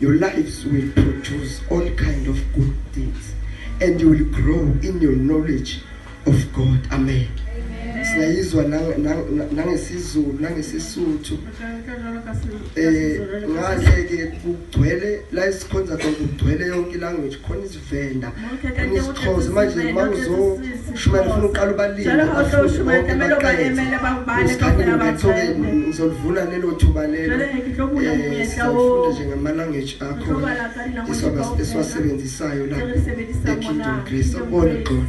Your lives will produce all kind of good things and you will grow in your knowledge of God. Amen. Singayizwa nangesizulu nangesisuthu eh ngaze ke kugcwele la isikhonza kugcwele yonke language khona venda usichoze manje uma uzoshumayela ufuna uqala ubalileusikhanyeuqethokeni ngizolivuna lelo thuba lelo sifunda nje ngamalanguage akho esiwasebenzisayo la ekingdom grace akubona gxona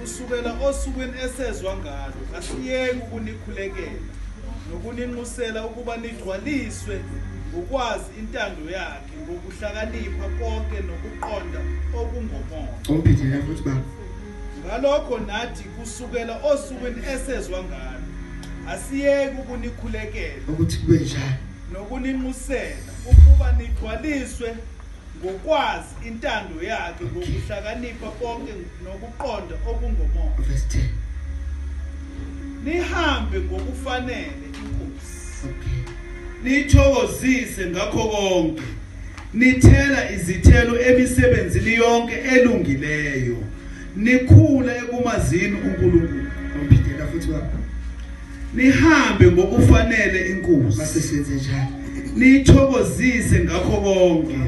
Kusukela osukwini esezwa ngalo, asiyeki ukunikhulekela nokuninxusela ukuba nigcwaliswe ngokwazi intando yakhe ngokuhlakanipha konke nokuqonda okungomoya Umpithile futhi baba. ngalokho nathi kusukela osukwini esezwa ngalo asiyeki ukunikhulekela Ukuthi kube njalo. nokuninxusela ukuba nigcwaliswe Ngokwazi intando yakhe ngokuhlakanipha konke nokuqonda okungomoya. Verse 10. Nihambe ngokufanele inkosi. Okay. Nithokozise ngakho konke. Nithela izithelo emisebenzini yonke elungileyo. Nikhule ekumazini uNkulunkulu. Ngiphilela futhi baba. Nihambe ngokufanele inkosi. Base senze njalo. Nithokozise ngakho konke.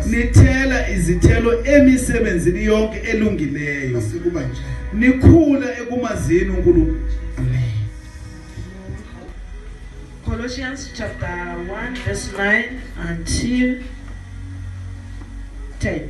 Nithela izithelo emisebenzini yonke elungileyo. Base kuba njalo. Nikhula ekumazini uNkulunkulu. Amen. Colossians chapter 1 verse 9 until 10.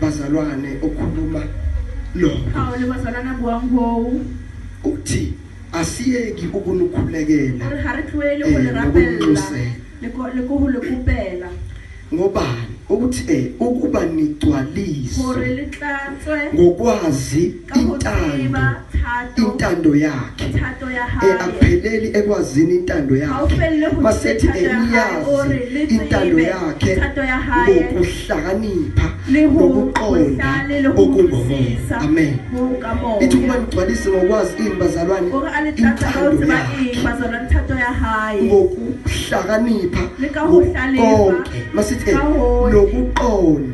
bazalwane okhuluma lokho hawu le bazalwane abuwangowu uthi asiyeki ukunukhulekela gore ga re tloele go le Eh, rapelela nokunxusela. le ko- le ko go le kopela ngobani ukuthi eh ukuba gore nigcwaliswe le tlatswe ngokwazi intando intando yakhe eh, akupheleli ekwazini intando yakhe masethi eniyazi intando yakhe ngokuhlakanipha ngokuqonda okungomoya amen ithi ukuba nigcwalise ngokwazi ini bazalwane intando yakhe ngokuhlakanipha konke masithi eh, nokuqonda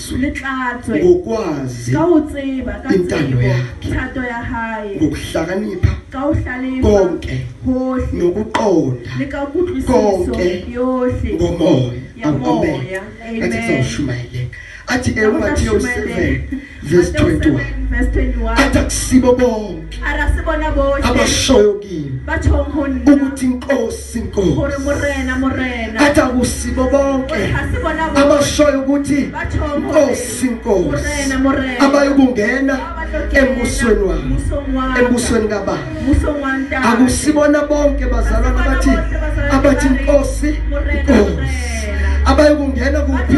ngokwazi intando yakhe ngokuhlakanipha konke nokuqonda konke ngomoya awuqombela athi kuzoshumayeleka athi ematthew 7 verse 21 athi akusibo bonke Ara se bona bohle. abashoyo kimi Ba tjhong ho nna. ukuthi inkosi Hore inkosi morena morena. athi akusibo bonke Hore ha se bona bohle. abashoyo ukuthi Ba tjhong ho inkosi inkosi Morena morena. abayokungena Ba ba tlo kena embusweni wami musong wa ka. embusweni kababa Musong wa ntate. akusibona bonke bazalwana abathi abathi inkosi inkosi abayokungena kuphi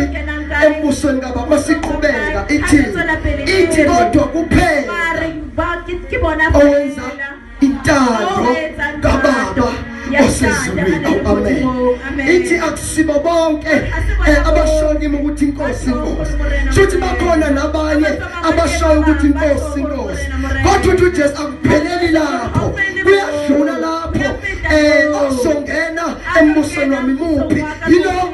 embusweni kababa masiqhubeka ithi ithi kodwa kuphela owenza intando kababa osezulwini amen ithi akusibo bonke eh, abashonile ukuthi inkosi inkosi futhi bakhona nabanye abashayo ukuthi inkosi inkosi kodwa uthi uJesu akupheleli lapho kuyadlula lapho eh ozongena embusweni wami muphi yilo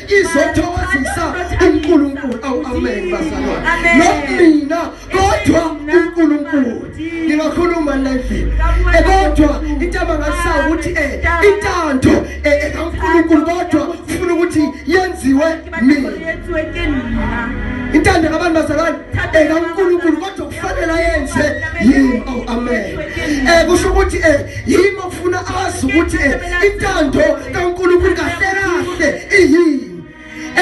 izothokozisa uNkulunkulu awu amen bazalwana not mina kodwa uNkulunkulu ngingakhuluma nendlela eh, kodwa into abangasayo ukuthi eh, intando eh, ekaNkulunkulu kodwa ufuna ukuthi yenziwe mina intando kabantu bazalwane ekaNkulunkulu kodwa kufanele yenze yini awu amen eh kusho ukuthi eh yimi ofuna azi ukuthi intando kaNkulunkulu kahle kahle iyini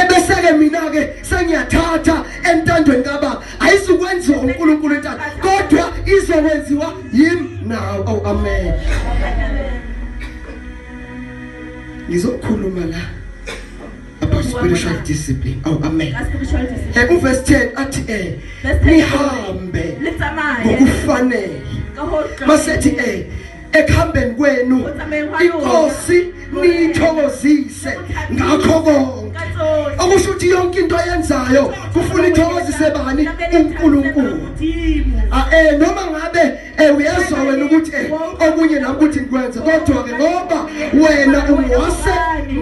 ebeseke mina ke sengiyathatha entandweni kababa ayizukwenziwa uNkulunkulu intando kodwa izokwenziwa yimi nawe oh amen ngizokhuluma la about spiritual discipline oh amen hey kuverse 10 athi eh nihambe ngokufanele masethi eh ekuhambeni kwenu inkosi niyithokozise ngakho konke okusho ukuthi yonke into ayenzayo kufuna ithokozise bani uNkulunkulu a ah, eh noma ngabe Eh uyezwa wena ukuthi eh okunye nami ukuthi ngikwenze kodwa ke ngoba wena ungwase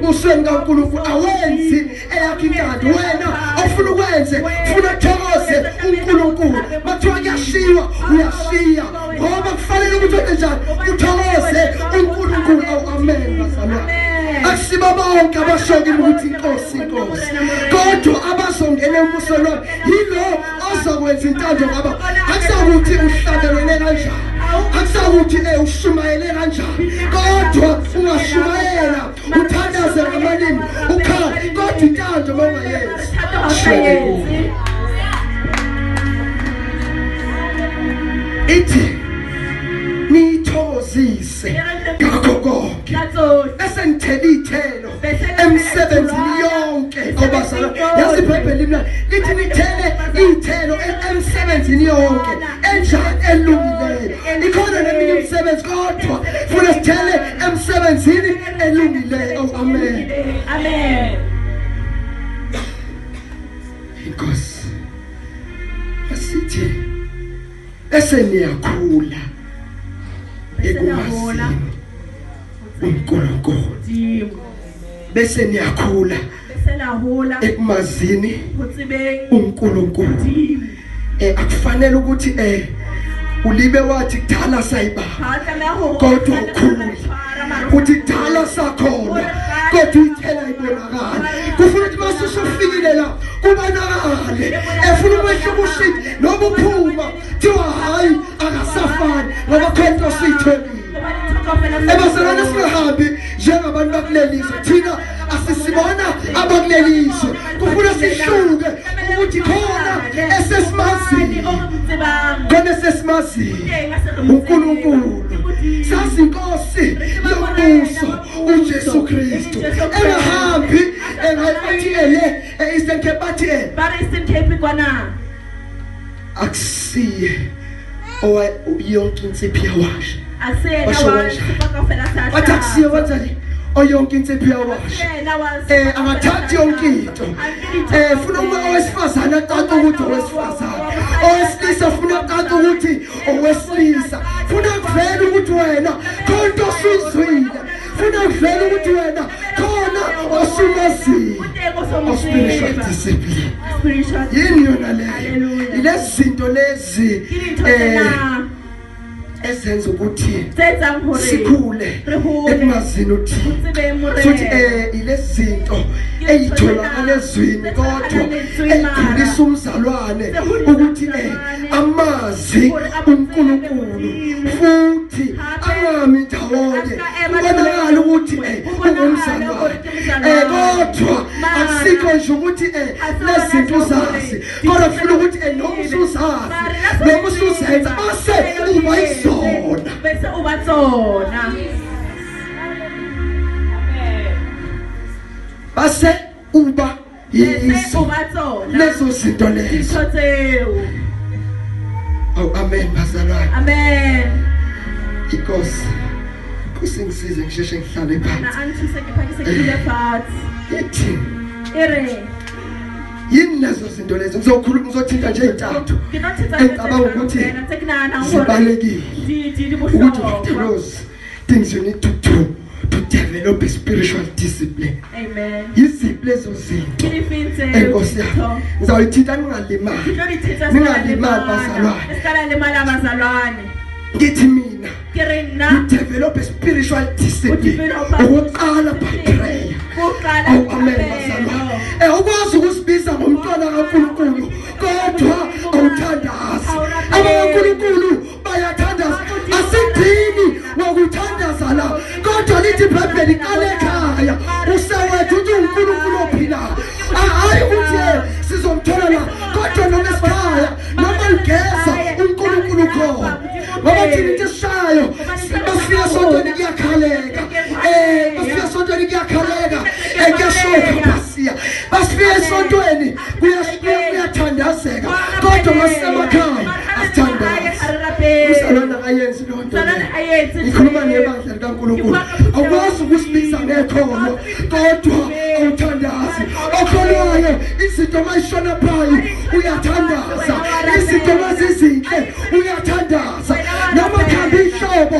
usweni kaNkulunkulu awenzi eyakhe inkandi wena ofuna ukwenze ufuna thokoze uNkulunkulu mathiwa kuyashiwa uyashiya ngoba kufanele ukuthi wenze njani uthokoze uNkulunkulu awu amen bazalwane asiba bonke abashoke ukuthi inkosi inkosi kodwa abazongena emusweni yilo azokwenza intando ngaba akusakuthi uhlabelele kanjani akusakuthi eh ushumayele kanjani kodwa ungashumayela uthandaze ngamalimi ukhala kodwa intando mawungayenzi ithi niyithokozise ngakho konke esengithela ithelo emsebenzini yonke obazala yazibhebhela imlalo lithi nithele iy'thelo emsebenzini yonke enjani elungileyo ikhona neminye imisebenzi kodwa funa sithele emsebenzini elungileyo oh, amen amen inkosi asithi bese niyakhula ekumazini uNkulunkulu bese niyakhula ekumazini uNkulunkulu eh akufanele ukuthi eh ulibe wathi kudala sayiba kodwa ukhulule uthi kudala sakhona kodwa ithela ibonakala kufuna ukuthi masusufikile la kubonakale efuna ukwehla ubushiki nokuphuma thiwa hayi akasafani ngoba khona osithe ebaselana singahambi njengabantu bakuleli zwe thina asisibona abakuleli zwe kufuna sihluke ukuthi khona esesimaziyo khona esesimaziyo unkulunkulu sazinkosi yombuso ujesu kristu engahambi engayibathi ele e-eastern cape bathi ele akusiye owa yonke insiphi yawasha athi akusiye wenzani oyonke insiphi yawasha um angathathi yonke into um funa uma owesifazane acaca ukuthi owesifazane owesilisa funa acaca ukuthi owesilisa funa kuvela ukuthi wena khonto osizwile funa uvele ukuthi wena khona osumaziyo ospiritual discipline yini yona leyo ilezi zinto lezi um ezenza ukuthi sikhule ekumazini uthini futhi eh ilezi zinto eyitholakala ezwini kodwa eyikhulisa umzalwane ukuthi eh amazi uNkulunkulu futhi angami ndawonye kubonakala ukuthi eh, ungumzali wakhe eh, kodwa akusikho nje ukuthi eh, lezinto uzazi kodwa funa ukuthi noma usuzazi noma usuzenza base uba izona bese uba zona base uba leso leso zinto leso Oh amen bazalwane amen inkosi kusingisize ngisheshe ngihlale phansi na angithuse ngiphakise ngile phansi ithi ere yini lezo zinto lezo ngizokhuluma ngizothinta nje izintathu ngicabanga ukuthi zibalekile ukuthi uDelos things you need to do to develop a spiritual discipline amen yiziphi lezo zinto enkosi yami ngizawuyithinta ningalimali ningalimali bazalwane esikala limala bazalwane ngithi mina you develop a spiritual discipline ukuqala by prayer ukuqala oh, amen bazalwane eh ukwazi ukusibiza ngomntwana kaNkulunkulu kodwa awuthandazi abaNkulunkulu bayathandaza asidini wokuthandaza la kodwa lithi ibhayibheli iqale ekhaya usawethu uthi unkulunkulu ophilayo hhayi ukuthi sizomthola la kodwa noma esikhaya noma ligeza unkulunkulu ukhona ngoba thina into esishayo basifika sontweni kuyakhaleka um basifika sontweni kuyakhaleka um kuyashoka basiya basifika esontweni kuyathandazeka kodwa masemakhaya asithandazisalwana ayenzi loo nto ngikhuluma ngebandla likankulunkulu awukwazi ukusibiza ngekhono kodwa awuthandazi okholwayo izinto mayishona phayi uyathandaza izinto mazizinhle uyathandaza noma khamba ihlobo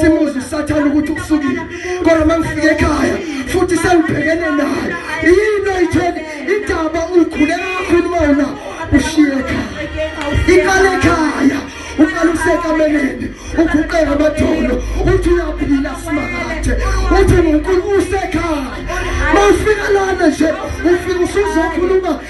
simuzi usathane ukuthi ukusukile kodwa mangifike ekhaya futhi sengibhekene naye yini oyitheni indaba ukhule kakhulu wena ushiye ekhaya iqale ekhaya uqala usekameleni uguqeka amadolo uthi uyaphila simakathe uthi unkulunkulu usekhaya mawufika lana nje ufika usuzokhuluma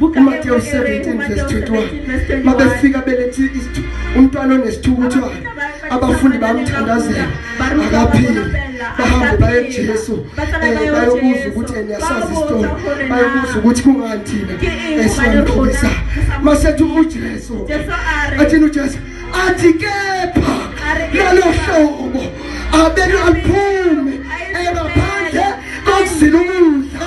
uMatewu 17 verse 21 mabefika belethi umntwana onesithukuthwane abafundi bamthandazela akaphili bahambe baye kuJesu eh, bayobuza ukuthi niyasazi isitolo bayobuza ukuthi kungani thina esiyamphikisa masethi uJesu athini uJesu athi kepha lalo hlobo abenu aliphume ebaphandle kokuzila ukudla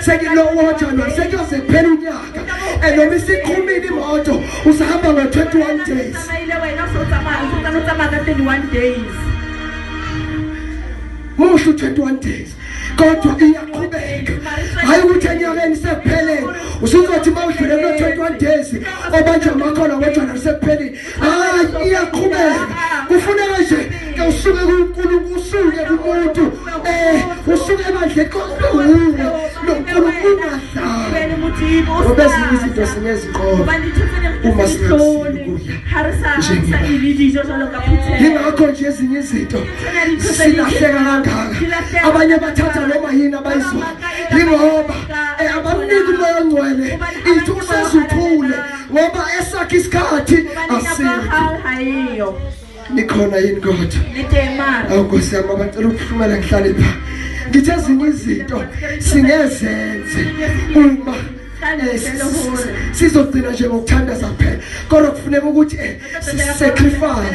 sekilowoja la sekuyoze kuphela unyaka and noma isiqhumile imoto usahamba ngo-21 days tsamaile wena usotsamaya usotsamaya utsamaya ka 21 days musho 21 days kodwa iyaqhubeka hayi ukuthi enyakeni sekupheleni usuzothi uma udlule kulo 21 days obanje amakhona kodwa nasekupheleni hayi iyaqhubeka kufuneka nje ke usuke kuNkulunkulu usuke kumuntu eh usuke manje konke obezinye izinto sinezinqobo uma singakuyingakho nje ezinye izinto silahleka kangaka abanye bathatha noma yini abayizwayo yingoba eh, abamniki umoya ongcwele ithi usezuthule ngoba esakhe isikhathi asiyo nikhona yini kodwa nidemara awukosi yami abacela ukuhlumela ngihlale pha ngithe ezinye izinto singezenze uma sizogcina nje ngokuthandaza phela kodwa kufuneka ukuthi eh, sisacrifice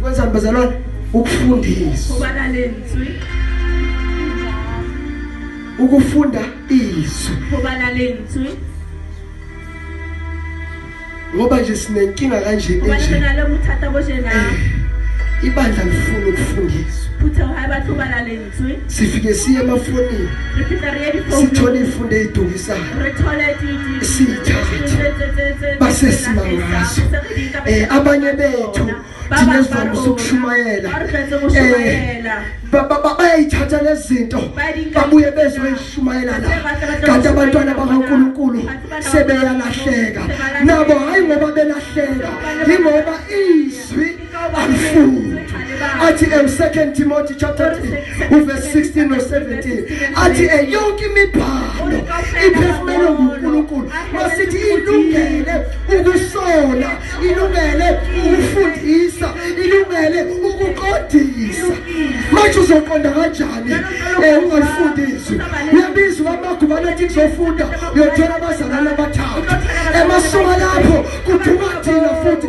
kwenzani bazalwane ukufundisa ubalaleni zwi ukufunda izwi ubalaleni zwi ngoba nje sinenkinga kanje enje eh, ibandla lifuna ukufundiswa sifike siye emafonini sithole ifunde eyidukisayo siyithathe basesimangazwa um eh, abanye bethu thina sivamise ukushumayela um eh, bayayithatha lezinto babuye bezoyishumayela la kanti abantwana bakankulunkulu sebeyalahleka nabo hhayi ngoba belahleka yingoba izwi abafundi athi em 2 Timothy chapter 3 uverse 16 no 17 athi eyonke imibhalo iphefumele nguNkulunkulu masithi ilungele ukusola ilungele ukufundisa ilungele ukuqondisa manje uzoqonda kanjani eh, ungalifundisi uyabiza amagubane athi kuzofunda uyothola abazalana abathathu emasonga lapho kuduma thina futhi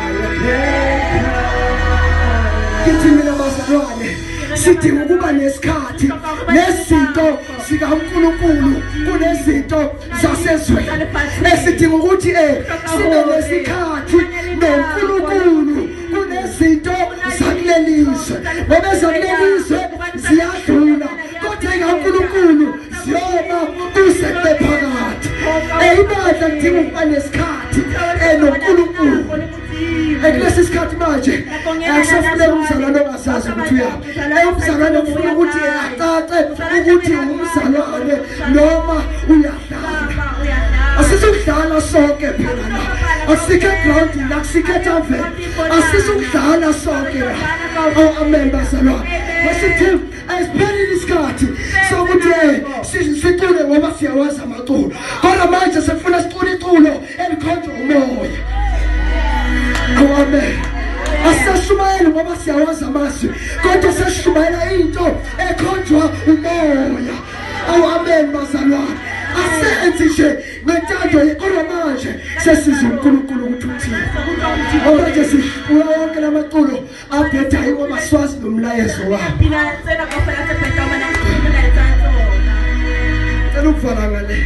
kithi mina bazalwane sidinga ukuba nesikhathi nezinto zikaNkulunkulu kunezinto zasezweni esidinga ukuthi eh sibe nesikhathi noNkulunkulu kunezinto zakulelizwe ngoba zakulelizwe ziyadlula kodwa ikaNkulunkulu noma kusebe phakathi eyibandla kudinga ukuba nesikhathi enoNkulunkulu ekulesi sikhathi manje akusafuneka umzalwane ongasazi ukuthi uyaphi eyumzalwane kufuna ukuthi acace ukuthi umzalwane noma uyadlala asizokudlala sonke phela la asikhe ground la sikhe tavern asizokudlala sonke la oh amen bazalwane wasithi ayisiphelile isikhathi sokuthi sicule ngoba siyawazi amaculo kodwa manje sefuna sicule iculo elikhonjwa umoya amen asisashumayeli ngoba siyawazi amazwi kodwa sesishumayela into ekhonjwa umoya awu amen bazalwane asenzi nje ngentando kodwa manje sesiza unkulunkulu ukuthi uthini ngoba nje sifuna wonke la maculo Abeta hiwo maswazi no mlayezo wa. Pina tsena ka fela tse peta mana tsena tsa tsona. Tsena ukufana ngale.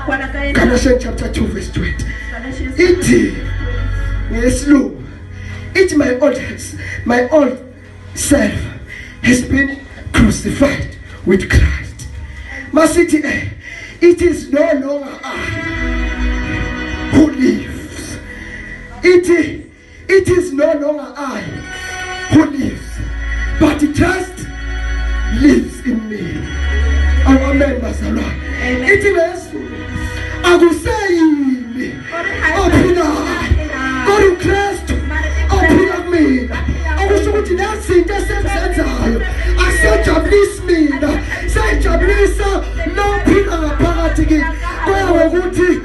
Kwana ka yena. Galatians chapter 2 verse 20. Ithi ngesilungu. Ithi my old my old self has been crucified with Christ. Masithi eh it is no longer I who lives. Ithi It is no longer I who lives, but Christ lives in me. Oh, amen, bazalwa. Ithi lesu akuseyimi ophila kodwa uKristu ophila kumina. Okusho ukuthi lezinto esenzenzayo asejabulisi mina, sejabulisa nophila ngaphakathi kimi. Kuya ngokuthi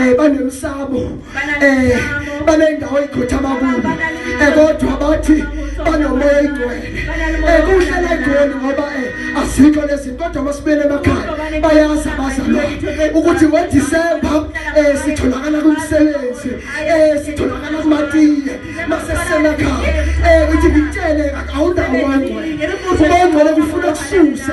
eh banemsamo eh banendawo ikhothama kuyo eh kodwa bathi banomoya ingcwele eh kuhlala egoli ngoba eh asikho lezi kodwa masibele emakhaya bayazi abazalwane ukuthi ngo December eh sitholakala kumsebenzi eh sitholakala kumatiye masesemakhaya eh uthi ngitshele awunawo wangcwele ubongcwele kufuna kususe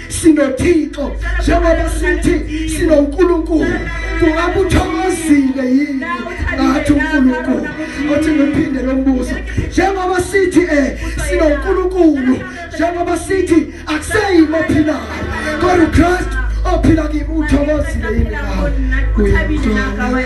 sinothixo njengoba sithi sinonkulunkulu kungabe uthokozile yini ngathi unkulunkulu othi ngiphinde lo mbuzo njengoba sithi um eh, sinonkulunkulu njengoba sithi akuseyimo ophilayo kodwa ukristu ophila kimi uthokozile yini ngawe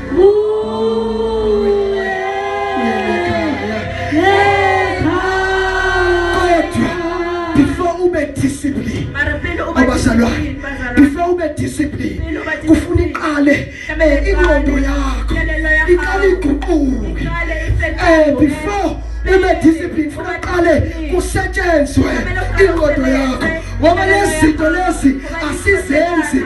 abazalwane before ube discipline kufuna iqale eh, ingqondo yakho iqale iguquke eh before ube discipline funa qale kusetshenzwe ingqondo yakho ngoba lezi zinto lezi asizenzi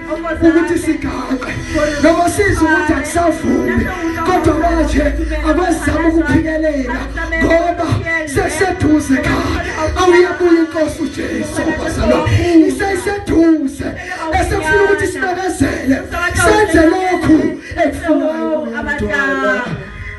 ukuthi sigaxe noma sizwe ukuthi akusavumi kodwa manje akwezama ukuphikelela ngoba seseduze kha awuyabuya inkosi uJesu bazalo iseseduze esefuna ukuthi sibekezele senze lokhu ekufunayo abadala